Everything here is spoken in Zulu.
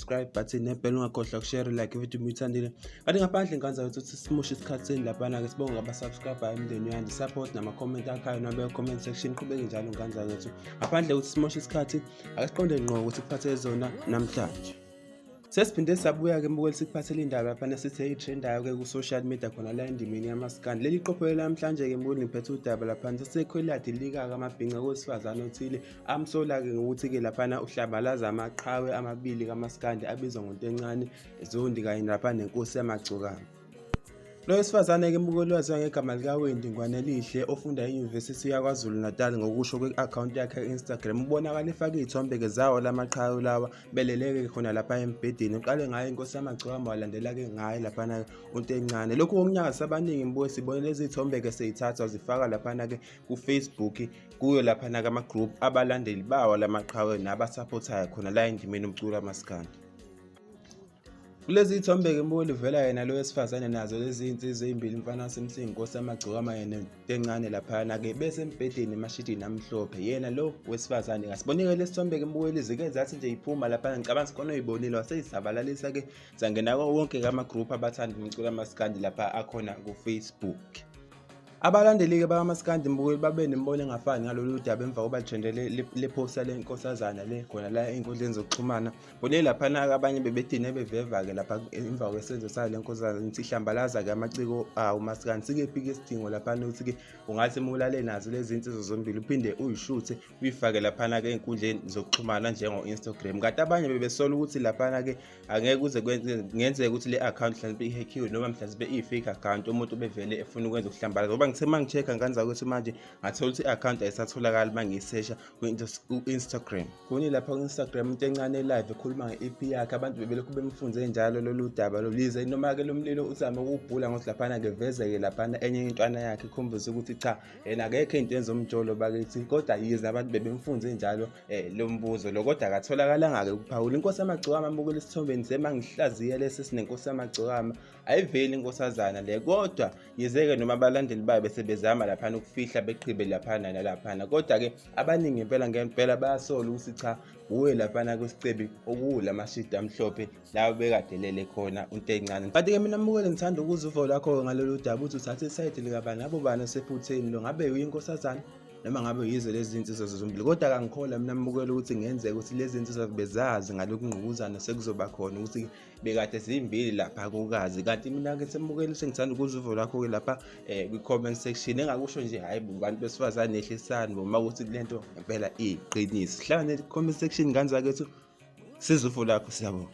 subscribe button nebhela ungakhohlwa ukushare like ividiyo uma uyithandile kanti ngaphandle ngikwenza ukuthi uthi simushe isikhathi seni laphana-ke sibonge ngabasubscribe emndeni uyandi support nama-comment akhayo nabe comment section qhubeke njalo ngikwenza ukuthi ngaphandle ukuthi simoshe isikhathi akasiqonde ngqo ukuthi kuphathe zona namhlanje sesiphinde sabuya-ke mbukeli sikuphathele indaba laphana sithe itrendayo-ke ku-social media khona la endimeni yamasikani leli qopho elamhlanje-ke mbukeli ngiphethe udaba laphana sesekhweladi likaka amabhinca kowesifazane othile Amsola-ke ngokuthi-ke laphana uhlambalaza amaqhawe amabili kamaskandi abizwa ngontencane zondi kanye lapha nenkosi yamagcokama lo wesifazane-ke umukeli waziwa ngegama likawendi ngwanelihle ofunda enyuvesithi yakwazulu natal ngokusho kwi-akhawunti yakhe e-instagram ubonakala efake iy'thombe-ke zawo la maqhawe lawa beleleke khona lapha embhedeni uqale ngayo inkosi yamagcokama walandela-ke ngayo laphana-ke untencane lokhu kokunyakazisa abaningi mbuye sibone lezi y'thombe-ke seyithathwa zifaka laphana-ke kufacebook kuyo lapha nakama-group abalandeli bawo la maqhawe nabasapothayo khona la endimeni umculo amasikandi kulezi ithombe-ke mboli vela yena lo wesifazane nazo lezi iy'nsizwa ey'mbili umfana wasemsini nkosi amagcokama yena encane laphayana-ke besembhedeni emashidini amhlophe yena lo wesifazane kasibonike lesi thombe-ke mbukeli zike zathi nje iphuma laphana ngicabanga sikhona oyibonile waseyisabalalisa-ke zangena ko wonke-ke ama-group abathanda umculo amasikandi lapha akhona kufacebook Abalandeli-ke bakamaskandi mbukeli babe nemibono engafani ngalolu daba emva kokuba lithende lephosta le nkosazana le khona la ey'nkundleni zokuxhumana kule laphana-ke abanye bebedine beveva-ke lapha emva kwesenzo sayo le nkosazana ngithi hlambalaza-ke amaciko awo maskandi sikephi-ke isidingo laphana ukuthi-ke ungathi mulale nazo lezi nsizwa zombili uphinde uyishuthe uyifake laphana-ke ey'nkundleni zokuxhumana njengo-instagram kanti abanye bebesola ukuthi laphana-ke angeke kuze kungenzeka ukuthi le account mhlawumbe ihackiwe noma mhlawumbe iyi-fake account umuntu ubevele efuna ukwenza ukuhlambala ngoba ngithe uma ngi-check-a nganza ukuthi manje ngathola ukuthi i-account ayisatholakali uma ngiyisesha ku-instagram kuni lapha ku-instagram into encane live ekhuluma nge-ep yakhe abantu bebelokhu bemfunze njalo lolu daba lolize noma-ke lo mlilo uzame ukuwubhula ngokuthi laphana ngevezeke laphana enye intwana yakhe ikhombise ukuthi cha yena akekho into enza umjolo bakithi kodwa yize abantu bebemfunze njalo um eh, lo mbuzo lo kodwa akatholakalanga-ke ukuphawula inkosi yamagcokama amukela esithombeni sema ngihlaziye lesi sinenkosi yamagcokama ayiveli inkosazana le kodwa yize-ke noma abalandeli bayo besebezama laphana ukufihla beqhibe laphana nalaphana kodwa-ke abaningi impela ngempela bayasola ukuthi cha wuye laphana kwesicebi okuwula mashidi amhlophe la ubekade lele khona untencane kanti ke mina mukele ngithanda ukuza uvo lakho ngalolu daba uthi uthathe isayidi likabani labo bani osephutheni lo ngabe uyinkosazana noma ngabe yizo lezi zinsizwa zombili kodwa kangikholwa mina mbukela ukuthi ngenzeka ukuthi lezi zinsizwa bezazi ngalokhu ngqubuzana sekuzoba khona ukuthi bekade zimbili lapha kokazi kanti mina-ke sembukela ukuthi ngithanda ukuza uvo lakho-ke lapha um kwi-comment section engakusho nje hhayi bantu besifazane ehlisani boma ukuthi le nto ngempela iyiqiniso hlangane comment section ngane zakethu siza ufo lakho siyabonga